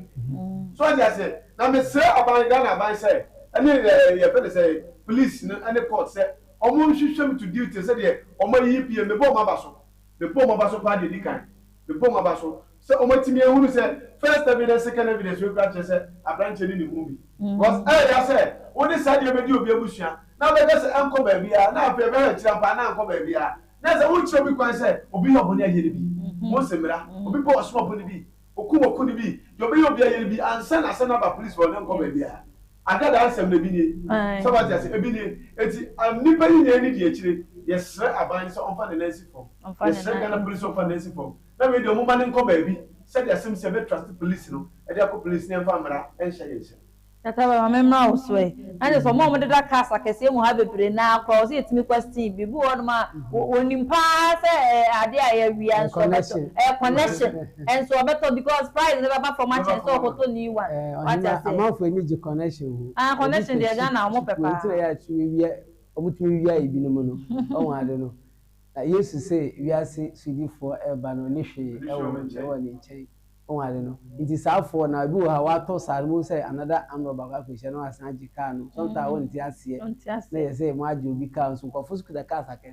So wate aseɛ? Na mesrɛ aban, Ghana aban sɛ ɛne ɛɛ yɛfrɛ no sɛn, police no ɛne court sɛ ɔmo nhwehwɛ me to duty sɛdeɛ ɔmo ayiyi pm. Mebɔɔ m'aba so. Mebɔɔ m'aba so paa deɛ ɛdi kan. Mebɔ mu aba so sɛ wɔatumi ahunu sɛ first evidence, second evidence wei koraa kyerɛ sɛ aberanteɛ no nim ho bi. Because ɛreya sɛ wode saa deɛ bɛdi obi abusua na wobɛka sɛ ɛnkɔ baabiara na afei ɛbɛhwɛ akyiri ampa na ankɔ baabiara na ɛsɛ wokyerɛ obi kwan sɛ obi yɛ ɔbɔne ayɛ no bi. Mose mmara, obi bɔ ɔsom ɔbɔne bi, okum ɔko no bi, deɛ ɔbɛyɛ obi ayɛ no bi ansa na asɛm no aba police hɔ na ɛnkɔ baabiara. Ada daa nsɛm no, ebi nie. Sɛ wate ase? Ebi nie. Enti, nipa yi nyaa nidi akyire. Yɛsrɛ aban no sɛ ɔmfa ne nan nsi fam. Yɛsrɛ Ghana Police sɛ ɔmfa ne nan nsi fam. Na wei deɛ, wɔmma no nkɔ baabi sɛdeɛ asɛm no si, yɛbɛ trust police no de akɔ police na yɛmfa mmara nhyɛ ne nsam. Tata bɛma me mmra wo so ɛ. Na kyerɛ sɛ wɔn a wɔdeda cars akɛseɛ mu ha bebree no ara koraa, ɛwɔ sɛ yɛtumi kɔ steam. Biribi wɔ hɔnom a wɔnim pa ara sɛ ɛyɛ adeɛ a ɛyɛ awia nso wɔbɛtɔ. Ɛyɛ connection. Nso ɔbɛtɔ because price no bɛba fam akyɛn sɛ ɔkɔtɔ new one. Ɛɛ ɔhene amanfoɔ ani gye connection ho. Ah connection deɛ Ghana wɔn pɛ paa. Nti na yɛ a tumi wia wɔn tumi wia ebinom no wɔn ade no. Na Yesu se wiase sodifoɔ reba no ɔni hwee ɛwɔ ɛwɔ ne nkyɛn wɔn ade no. Nti saa foɔ na ebi wɔ ha watɔ saa no wɔn sɛ another amrɔ baako akɔ hyia na wɔn asan agye car no. Sometimes wɔn nte aseɛ. Na yɛ sɛ wɔn agye obi car nso nkorɔfoɔ nso kuta cars akɛse.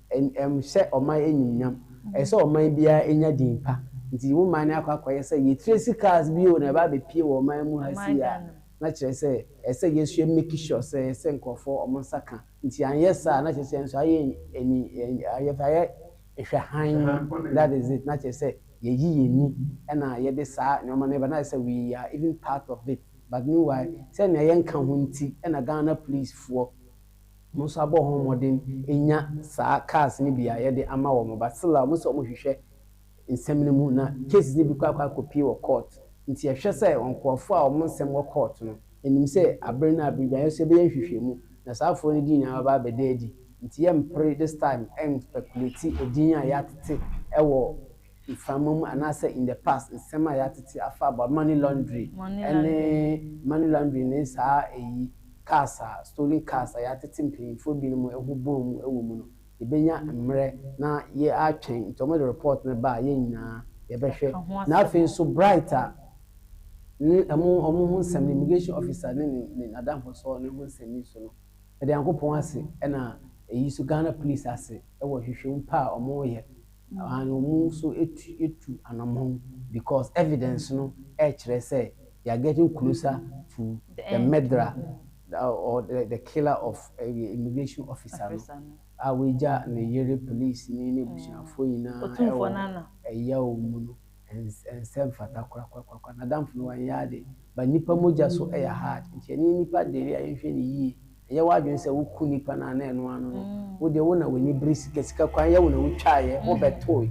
Ɛnhyɛ ɔman animuonyam. Ɛsɛ sɛ ɔman biara nya din pa. Nti wo man no akɔ akɔyɛ sɛ yɛ tracy cars bi o na ɛba abɛpie wɔ ɔman mu ha sei a, na kyerɛ sɛ ɛsɛ sɛ yɛ nso yɛ make sure sɛ yɛhyɛ nkurɔfoɔ wɔn nsa ka. Nti anyɛ saa a, na kyerɛ sɛ yɛn nso ayɛ ani, yɛfrɛ ayɛ hwɛ hann, that is it, na kyerɛ sɛ yɛayi yɛn ani na yɛde saa nneɛma no reba, na ayɛ sɛ we are even part of it, but meanwhile sɛ nea yɛnka ho nti na Ghana policefoɔ, Monsa bɔ ho mmɔden nya saa cars no bi a yɛde ama wɔn but still a wɔn sɛ wɔn hwehwɛ nsɛm no mu na cases no bi kɔ akɔ akɔ pie wɔ court nti yɛhwɛ sɛ wɔn nkorɔfoɔ a wɔn nsɛm wɔ court no yɛnim sɛ abere no abere biara yɛn nso yɛbɛyɛ nhwehwɛmu na saa foɔ no din nyinaa bɛba abɛda adi nti yɛmpere this time ɛn speculate din a yɛatete wɔ mframa mu anaasɛ in the past nsɛm a yɛatete afa about money laundry ne money laundry ne saa eyi cars a stolen cars a yɛatete mpanyimfoɔ binom ho bɔn mu wɔ mu no yɛbɛnya mmerɛ na yɛatwɛn nti wɔde report no ba a yɛn nyinaa yɛbɛhwɛ na afei nso Bright a ne wɔn wɔn ho nsɛm no immigration officer ne ne ne n'adamfosoɔ no ho nsɛm yi so no meda Nyankopɔn ase ɛna eyi so Ghana police ase wɔ nhwehwɛmu pa a wɔreyɛ And ɔmo nso atu atu anamɔn because evidence no ɛkyerɛ sɛ they are getting closer to the murderer or the killer of immigration officer no a wagya ne yere, police ni ne abusuafoɔ nyinaa ɛwɔ ɛyaw mu no. Ɛnsɛ mfata korakorakorakora. N'adamfo no wanyɛ ade but nnipa mogya so ɛyɛ hard nti ɛneɛ nnipa dee a yɛnhwɛ no yie. Yɛ w'adwene sɛ wo ku nipa no ana ɛno ano no wo deɛ wo na w'ani bere sika sika kwan yɛ wo na wo twaeɛ wo bɛ toe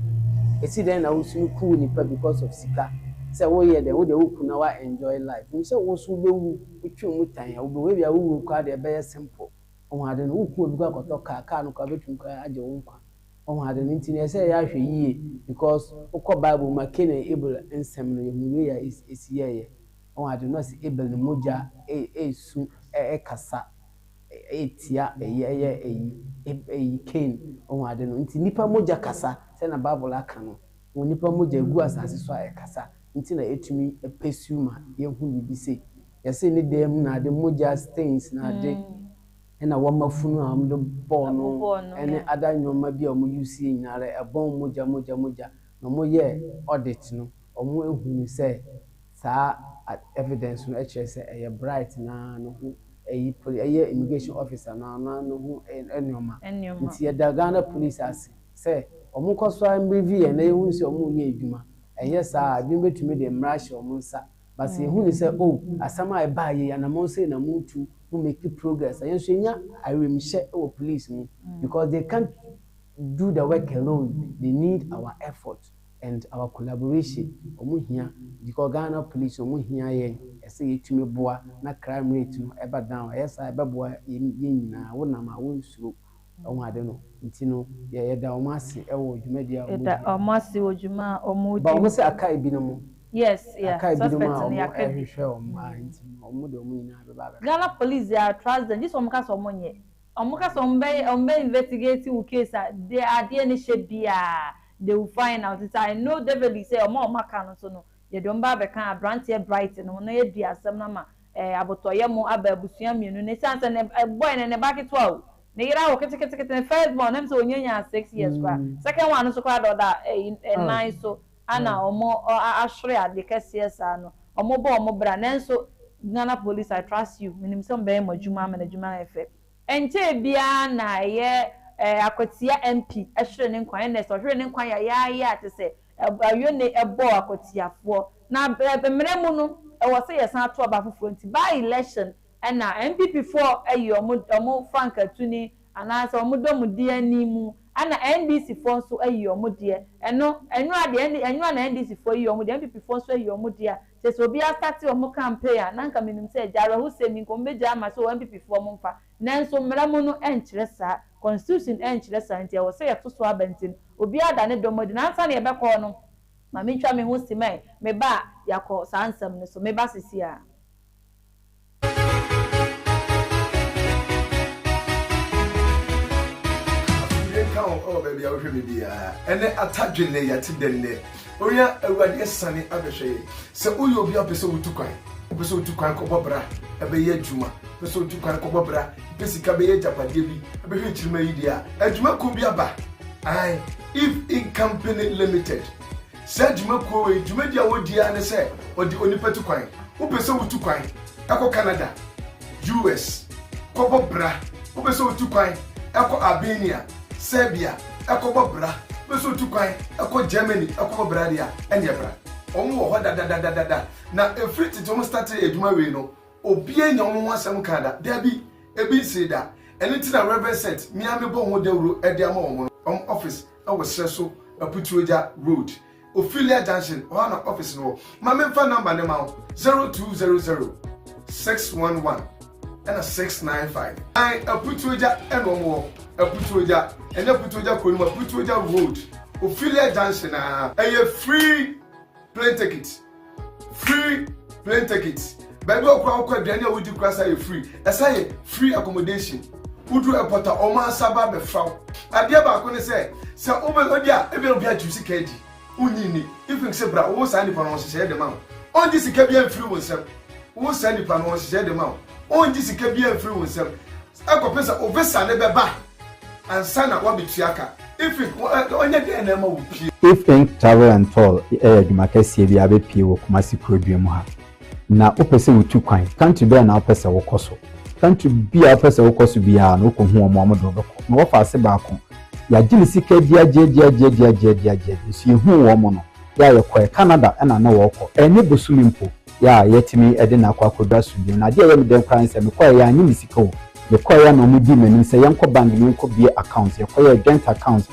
ɛsi dɛn na wo sunu ku wo nipa because of sika sɛ wo yɛ dɛn wo deɛ wo ku na wa enjoy life nim sɛ wo so wo bɛ wu wo twe wo mu tan a wo bɛ wu ɛbia wo wuo koraa deɛ ɛbɛ yɛ simple wahu ade no wo ku obi kɔ akɔtɔ car car no koraa bɛtumi koraa agye wo nkwa wahu ade no nti no ɛsɛ yɛ ahwɛ yie because wo kɔ bible mu a Cain and Abel nsɛm no yɛ hu wei a ɛsi yɛɛyɛ. Ɔwɔ adwene no ɔse Abel ne mogya resu rekasa tia ɛyi ɛyɛ ɛyi ɛyi Cain ɔwɔ ade no nti nipa mogya kasa sɛ na bible aka no wɔ nipa mogya egu asase so a ɛkasa nti na etumi pursue ma yɛ hu biribi se yɛse ne dan mu na ade mogya stains na ade ɛna wɔma funu a wɔn de bɔɔ no ɛne ada nnoɔma bi a wɔn use yɛ nyinaa rɛ ɛbɔn mogya mogya mogya na wɔn yɛ audit no wɔn ehunu sɛ. Saa evidence no kyerɛ sɛ ɛyɛ Bright no ara no ho ɛyi poli ɛyɛ immigration officer no ara no ara no ho nnoɔma. Nti yɛda Ghana police ase sɛ wɔn kɔ so ara mbrevy yɛn na yɛhunu sɛ wɔn reyɛ adwuma. Ɛnyɛ saa a ebinom bɛtumi de mmara ahyɛ wɔn nsa. But sɛ yɛhunu sɛ oh asɛm a ɛbaa yei anamɔn sei na mo tu, mo make progress a, yɛn nso yɛnya awiemhyɛ wɔ police mu because they can't do the work alone, they need our effort. and our collaboration ɔmo hia because Ghana police ɔmo hia yɛn ɛsɛ yɛtumi boa na crime rate no ɛba down ɛyɛ saa ɛbɛboa yɛn nyinaa wo nam a wonsuro wahu ade no nti no yɛ yɛda ɔmo ase ɛwɔ dwumadie a ɔmo di. Yɛda ɔmo ase wɔ dwuma a ɔmo But di. ɔmo sɛ aka ebinom Yes yeah aka ebinom suspect a no ɔmo yɛaka bi ɛhwehwɛ ɔmo mmaa mm. nti no ɔmo de ɔmo nyinaa bɛba abɛka. Ghana police deɛ I trust them gye sɛ ɔmo ka sɛ ɔmo nyɛ ɔmo ka sɛ ɔmo bɛyɛ ɔmo bɛ investigate wo case a deɛ adeɛ no hyɛ biaa. They will find out nti I know develly sɛ ɔmo a ɔmo aka no nso no yɛde ɔmo bɛba abɛka abranteɛ Bright no ho na yɛadi asɛm no ama ɛɛ abotɔyɛ mo aba abusua mmienu no ɛsiane sɛ ne boy no ne ba ketewa o ne yere awo ketekete ne first born ɛm sɛ ɔnya nyaa six years koraa second one no nso koraa deɛ ɔda ɛyi ɛnan so ana ɔmo ahwere adeɛ kɛseɛ saa no ɔmo bɔ ɔmo bra nanso Ghana police I trust you menim sɛ ɔmo bɛyɛ mo adwuma ama no adwuma ayɛ fɛ Ɛnkyɛɛ biara na ɛyɛ Akwatia MP hwere ne nkwa Ernest ɔhwere ne nkwa yayaayaa a te sɛ Ayone bɔɔ Akwatiafoɔ na mmerɛ mu no ɛwɔ sɛ yɛsan to aba foforɔ nti by election na NPPfoɔ ayi wɔn frankaa tuni anaa sɛ wɔn dɔmudi ani mu ɛna NDCfoɔ nso ayi wɔn deɛ ɛno ɛno ara deɛ ɛno ara na NDCfoɔ yi wɔn deɛ NPPfoɔ nso ayi wɔn deɛ a Sɛ sɛ obi astate ɔmo campaign a na anka menim sɛ gya awerɛho sɛm yi nka ɔmo bɛgyaa ma so NPP foɔ ɔmo mfa nanso mmara mu no ɛnkyerɛ saa constitution ɛnkyerɛ saa nti ɛwɔ sɛ yɛto so aba nti no obiara da ne dɔm adi na ansa na yɛbɛkɔ no ma mentwa me ho simɛn me ba a yɛakɔ saa nsɛm no so me ba sesia. nka wo ɛwɔ baabi a wohwɛ me biara ɛnɛ atadwe nnɛ yɛte dɛ nnɛ owia awurade asiane abɛhwɛ yɛ sɛ woyɛ obi apɛ sɛ wotu kwan wopɛ sɛ wotu kwan kɔbɔ bra ɛbɛyɛ adwuma wopɛ sɛ wotu kwan kɔbɔ bra pɛ sika bɛyɛ agyapadeɛ bi ɛbɛhwɛ nkyirima yi deɛ a adwuma ko bi aba ae if in company limited Saa dwumakuo wei dwumadi a wɔdi ara ne sɛ wɔde onipa tu kwan. Wopɛ sɛ wotu kwan kɔ Canada, US. kɔbɔ bra? Wopɛ sɛ wotu kwan kɔ Albania, Serbia kɔbɔ bra? Wopɛ sɛ wotu kwan kɔ Germany kɔbɔ bra deɛ a, ɛnneɛ bra. Wɔn wɔ hɔ dadadadada. Na ɛfiri tete wɔn startee adwuma wei no, obiara nnya wɔn ho asɛm kaa da. Dabi, ebi nsee da. Ɛno nti na Rev. Seth, me ara mebɔ ho dawuro de ama wɔn no, wɔn office. ɛwɔ serɛ so aputuogya road ophelia junction hɔ ana office no wɔ ma me nfa number ne ma wo zero two zero zero six one one ɛna six nine five an aputuogya ɛna ɔmo wɔ aputuogya ɛnyɛ aputuogya kuro no mu aputuogya road ophelia junction aa ɛyɛ free. plane ticket free plane ticket baabi a ɔkura ɔkɔ aduane a wodi kura sa yɛ free ɛsa yɛ free accommodation wodu airport a wɔn ansa ba abɛfra wo adeɛ baako ne sɛ sɛ wobɛ ɔdi a ebi obi atu sika adi wonyi ni ifin sɛ bra wo saa nipa no ɔhyehyɛ de ma wo ɔngye sika bi amfiri wo nsam wo saa nipa no ɔhyehyɛ de ma wo ɔngye sika bi amfiri wo nsam Kɔpem sɛ wo visa no bɛba ansa na woabetua ka. Ifink, ɔnyɛ dɛn na ɛma wopue? Ifink Travel and Tour yɛ adwuma kɛseɛ bi a abɛpue wɔ Kumasi kurodua mu ha. Na wopɛ sɛ wotu kwan, country bɛn na wopɛ sɛ wokɔ so? Country bi a wopɛ sɛ wokɔ so biara no, wokɔhu wɔn a wɔde wo bɛkɔ. Na wɔfa ase baako, yɛagye ne sika gyeagyeagyeagyeagyeagyeagye, nso yɛhuu wɔn no, yɛ a yɛkɔɛ. Canada na na wɔrekɔ, ɛnyɛ bosome mpo. yɛ a yɛtumi de no akɔ akɔduru asomdwoe no, adeɛ a ɛyɛ me dɛ koraa ne sɛ mekɔeɛ yɛ a anyɛ me sika o. Mekɔeɛ na wɔdii m'anim sɛ yɛnkɔ bank na yɛnkɔ bue account. Yɛkɔyɛɛ joint account.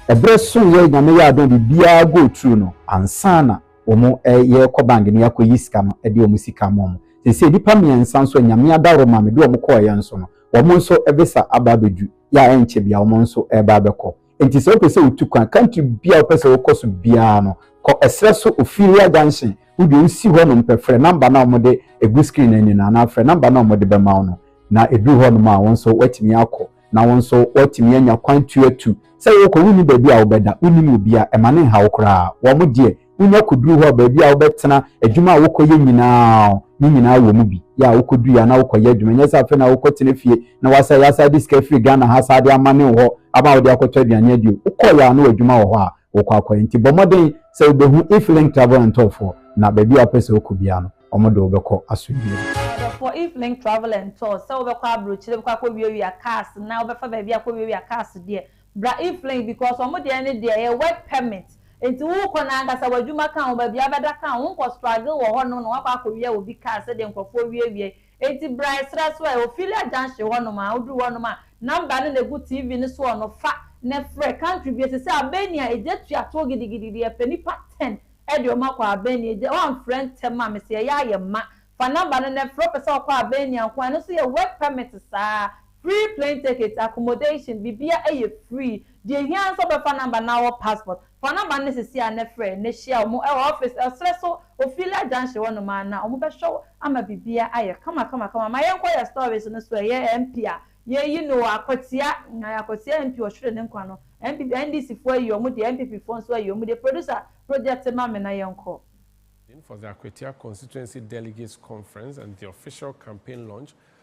Ɛberɛ soeɛ, Nyame yɛɛ adom a biribiara go through no, ansa na wɔn ɛ, yɛrekɔ bank na yɛakɔyi sika no de wɔn sika ama wɔn. Seesei nnipa mmiɛnsa nso a Nyame adaworo ma me de wɔn kɔeɛ nso no, wɔn nso visa aba abɛduru, yɛ a ɛnkyɛ biara wɔn nso reba abɛkɔ. Enti sɛ wopɛ sɛ wutu kwan country biara a wopɛ sɛ wokɔ so biara no, kɔ ɛserɛ so Ophelia Junction. Wo deɛ wusi hɔnom pɛ, frɛ number no a wɔde egu screen no ani no anaa frɛ number no a wɔde bɛma wo no, na eduru hɔnom a, wo nso woatumi akɔ, na wo nso woatumi anya kwan tu atu. Sɛ worekɔ, wunni baabi a wobɛda, wunnim obiara, ɛma no nha wo koraa. Wɔn deɛ. wonya kɔduru hɔ a baabi a wobɛtena adwuma a wokɔyɛ nyinaa ne nyinaa wɔ mu bi yɛ a wokɔdui a na wokɔyɛ adwuma nyɛ sɛ afei na wokɔtena fie na wasa yɛasa de sika firi ghana ha saa de ama ne hɔ ama wode akɔtɔ aduane adio wokɔyɛ a na w'adwuma wɔ hɔ a wokɔ akɔyɛ nti bɔ mmɔden sɛ wobɛhu if link travel and tour foɔ na baabi a wopɛ sɛ wokɔ biara no wɔn de wobɛkɔ asomdwie for If Link Travel and Tours sɛ wobɛkɔ aburokyire bɛkɔ akɔwiawia cars na wobɛfa baabi akɔwiawia cars deɛ Bra Eflain because ɔmo deɛ ne deɛ ɛyɛ work permit nti wo kɔ na ankasa w'adwuma ka ho baabi a wobɛda ka ho wo nkɔ struggle wɔ hɔ nom na woakɔ akɔ wia obi car sɛdeɛ nkorɔfoɔ wie wie nti bra ɛsrɛ so ɛ Ophelia junction hɔ nom a woduru hɔ nom a number no na ɛgu TV no soɔ no fa na ɛfrɛ country bie sɛsɛ Albania ɛgya tua toɔ gidigidigidi yɛpɛ nipa ten ɛde ɔmo akɔ Albania ɛgya woamfrɛ ntɛm a mesɛ yɛyɛ ayɛ ma fa number no na ɛfrɛ wopɛ sɛ wokɔ Albania nko a ɛno nso yɛ work permit saa Free plane ticket, accommodation, biribiara ɛyɛ free. Deɛ ɛhia ara ne sɛ wobɛfa number no na wɔ passport. Fa number no ne sisi ara na frɛ na hyia wɔn wɔ office, ɔserɛ so, Ofiila junction hɔ nom ara na wɔbɛhwɛ wo ama biribiara ayɛ kama kama kama. Ma yɛnkɔ yɛn stories no so, ɛyɛ MP a yɛayi no o, Akwatia, ayi Akwatia MP ɔhwere ne nkwa no, MP, NDC foɔ ayi wɔn deɛ, NPP foɔ nso ayi wɔn deɛ, producer project ma me na yɛnkɔ. for the Akwatia Constituency Delegates Conference and the official campaign launch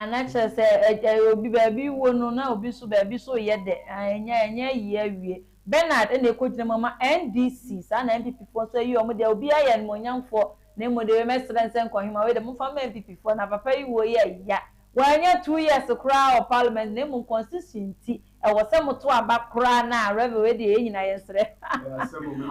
Ana kyerɛ sɛ ɛ obi baabi wɔ no na obi nso baabi nso reyɛ dɛ? Ae ɛnyɛ ɛnyɛ ayie awie. Bernard ɛna ɛkɔgyina mu ama NDC, saa na NPP foɔ nso ayi wɔn deɛ, obiara yɛ animuonyamfoɔ, na mmom deɛ wei mɛsrɛ no sɛ Nkohima wei deɛ momfa mma NPP foɔ, na papa yi wuo yɛ ya, wanyɛ two years koraa wɔ parliament na mmom constitution nti Ɛwɔ sɛ mo to aba koraa na Revel ɛdeɛ yɛn nyinaa yɛn srɛ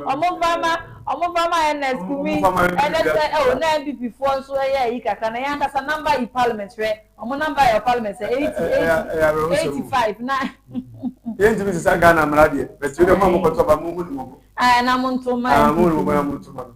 ɔmo nfa ma ɔmo nfa ma Ernest Kumi ɛnɛ sɛ oh na NPP foɔ nso ɛyɛ ayi kakra na yɛn ankasa number yi parliament hwɛ ɔmo number yɛ wɔ parliament sɛ eighty eighty eighty five na yɛn ntumi sisa Ghana mmara deɛ bɛti yɛ dɛ mo a mo kɔ to aba mo hu ne mo bo ɛɛ na mo nto ma NPP.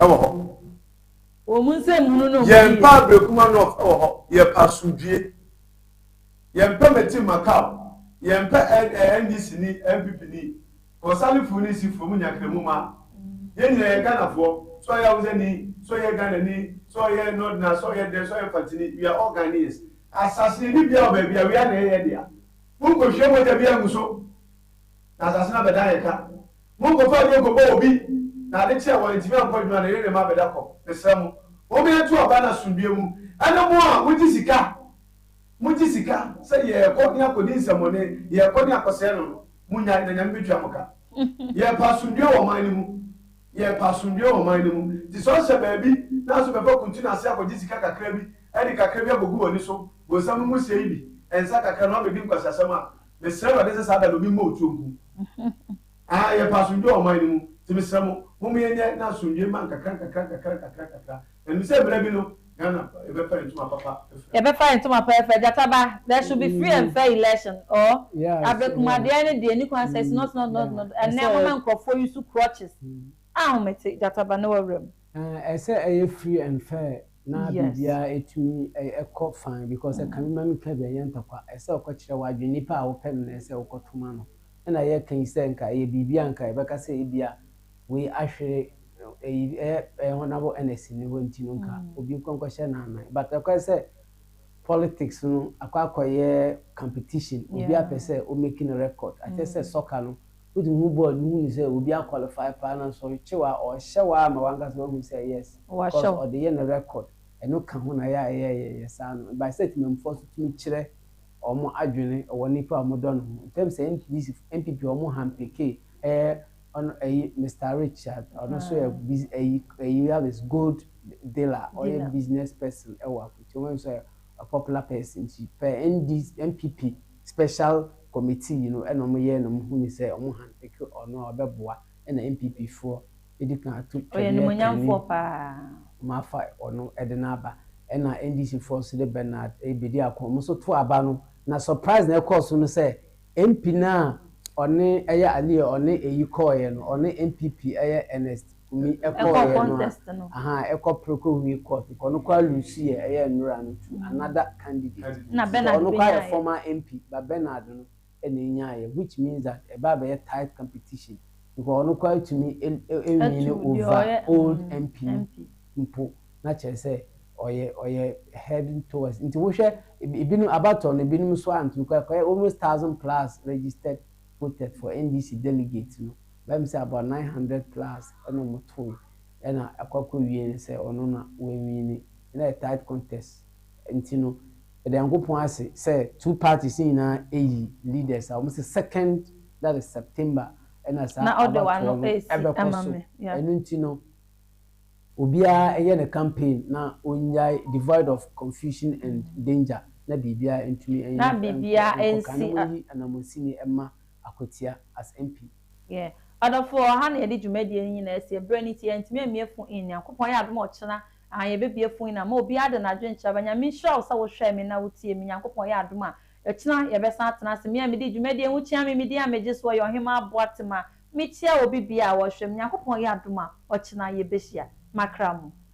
ɛwɔ hɔ. Wɔn mu nsɛm hunu no ho yiye. Yɛn pɛ Ablekuma North ɛwɔ hɔ. Yɛ pɛ asomdwie. Yɛn pɛ Metin Makau. Yɛn pɛ NDC ni, NPP ni, Kɔsalefo ni, Sifo mu Nyakremu ma. Yɛn nyinaa yɛ Ghanafoɔ. Sɛ ɔyɛ Hausa ni, sɛ ɔyɛ Ghana ni, sɛ ɔyɛ Northerner, sɛ ɔyɛ dɛn, sɛ ɔyɛ Mfante ni, we are all Ghanaians. Asase yɛ ni biara wɔ baabi a, wia na ɛyɛ yɛn dea. Monkɔ hwie mogya biara ngu so na asase no abɛdan yɛn ka. Monkɔfa aduro nkɔbɔ obi, na ade kye a wantumi ankɔ adwuma no, yere ne mma abɛda kɔ. Mesrɛ mo, mommea nto aba no asomdwoeɛ mu. Ɛne mo a mogye sika, mogye sika sɛ yɛrekɔ ne akɔdi nsɛmmɔne, yɛrekɔ ne akɔsɛe no no, monnyae, na Nyame bɛtua mo ka. Yɛrepɛ asomdwoeɛ wɔ ɔman no mu, yɛrepɛ asomdwoeɛ wɔ ɔman no mu, nti sɛ ɔhyɛ baabi na nso bɛfa kuntun ase akɔgye sika kakra bi de kakra bi akɔgu w'ani so, bonsam no mu sie yi bi, nsa kakra na woabɛdi nkwaseasɛm a, Mesrɛ Awurade sɛ saa da no obi mmɔ otuo nku. Aah yɛpɛ asomdwoe wɔ ɔman no mu, nti mesrɛ mo, momma yɛnyɛ na asomdwoe ma nkakra nkakra nkakra nkakra nkakra. Na nim sɛ mmrɛ bi no, Ghana yɛbɛfa yɛn ntoma papa ɛfɛ. Yɛbɛfa yɛn ntoma pa ɛfɛ. Gyata ba, there should be free and fair election or abrɛkumadeɛ no deɛ ɛnni kwan sɛ it's not not not not ɛnnɛ moma nkurɔfoɔ use crutches. Ahomete, Gyata ba ne wawura mu. Ɛsɛ ɛyɛ free and fair na biribiara ɛtumi ɛkɔ fine because ɛka bi ma me ka bi ɛnyɛ ntɔkwa ɛsɛ ɔkɔ kyerɛ w'adwene nipa a wopɛ no na ɛsɛ wokɔ to ma no ɛna yɛ ka yi sɛ nka ɛyɛ biribi a nka yɛbɛka sɛ ebia wei ahwere ɛyi ɛyɛ honourable Ernest ni hɔ nti no nka obi nkɔ nkɔ hyɛ n'anan but ɛkɔyɛ sɛ politics no akɔ akɔ yɛ competition obi apɛ sɛ o make no record akyɛ sɛ soccer no Wotumi hu bɔɔd no hu no sɛ obi a qualify paa na nsɔre kyew a ɔhyɛ wo ara ma wankasa wahu sɛ yes cause ɔde yɛ ne record ɛno ka ho na yɛ a ɛyɛ yɛ yɛ saa no by sɛ Temamufoɔ nso tumi kyerɛ wɔn adwene wɔ nnipa a wɔn dɔ no ho in terms sɛ NPDC foɔ NPP wɔn hampekee ɛɛ ɔno ɛyi Mister Richard ɔno nso yɛ biz ɛyi ɛyi have is gold dealer ɔyɛ business person ɛwɔ Afutuo wɔn nso yɛ a popular person nti pɛ ND NPP. special committee yi no na wɔyɛɛ na wɔhunuu sɛ wɔn hand picke ɔno a ɔbɛboa na NPP foɔ bɛdi kan ato Ɔyɛ twɛdeɛ kan animuonyamfoɔ yi paa. wɔafa ɔno de no aba ɛna NDC foɔ nso de Bernard bɛdi ako wɔn nso too aba no na surprise na ɛkɔɔ so no sɛ MP no a ɔne ɛyɛ Ali a ɔne ɛyi kɔeɛ no ɔne NPP ɛyɛ Ernest humi ɛkɔɔyɛ no a aha ɛkɔ preko humi court kɔ ɔno koraa lusu yɛ ɛyɛ nnora no to another candidate nti sɛ ɔno koraa yɛ former MP but Bernard no ɛna ɛnyaa yɛ which means that ɛba abɛyɛ tight competition because ɔno koraa tumi ɛwini over old MP no mpo na kyerɛ sɛ ɔyɛ ɔyɛ heading towards nti wohwɛ ɛbinom abatoɔ no ɛbinom nso antumi kɔ ɛkɔyɛ almost thousand plus registered voted for NDC delegate no bɛyɛ me sɛ about nine hundred plus na ɔmo tooe ɛna ɛkɔ akɔ wie no sɛ ɔno na w'awine na ɛyɛ tight contest nti no yɛda Nyankopɔn ase sɛ two parties no nyinaa ayi leaders a ɔmo sɛ second that is September ɛna saa abatoɔ no ɛbɛkɔ so ɛno nti no Obiara yɛ ne campaign na ɔnyae devoid of confusion and danger na biribiara ntumi nyɛ na biribiara nsi a. Nkɔ kan na monyi Anamunsini mma Akwatia as MP. Yeah adɔfoɔ ɛha na yɛde dwumadie no nyinaa sie berɛ no nti yɛntumi ammie phone in Nyankopɔn yɛ adom a ɔkyena aa yɛbɛbie phone in ama obiara de n'adwene kyerɛ aba Nyame nhyira wo sɛ wo hwɛɛ me na wo tiee me Nyankopɔn yɛ adom a ɔkyena yɛbɛsan atena ase me a medi dwumadie ho kyia me me din a megye soɔ yɛ Ɔhemaa Boatema Mekyia obi bia a ɔhwɛ me Nyankopɔn yɛ adom a ɔkyena yɛbɛhyia makra mu.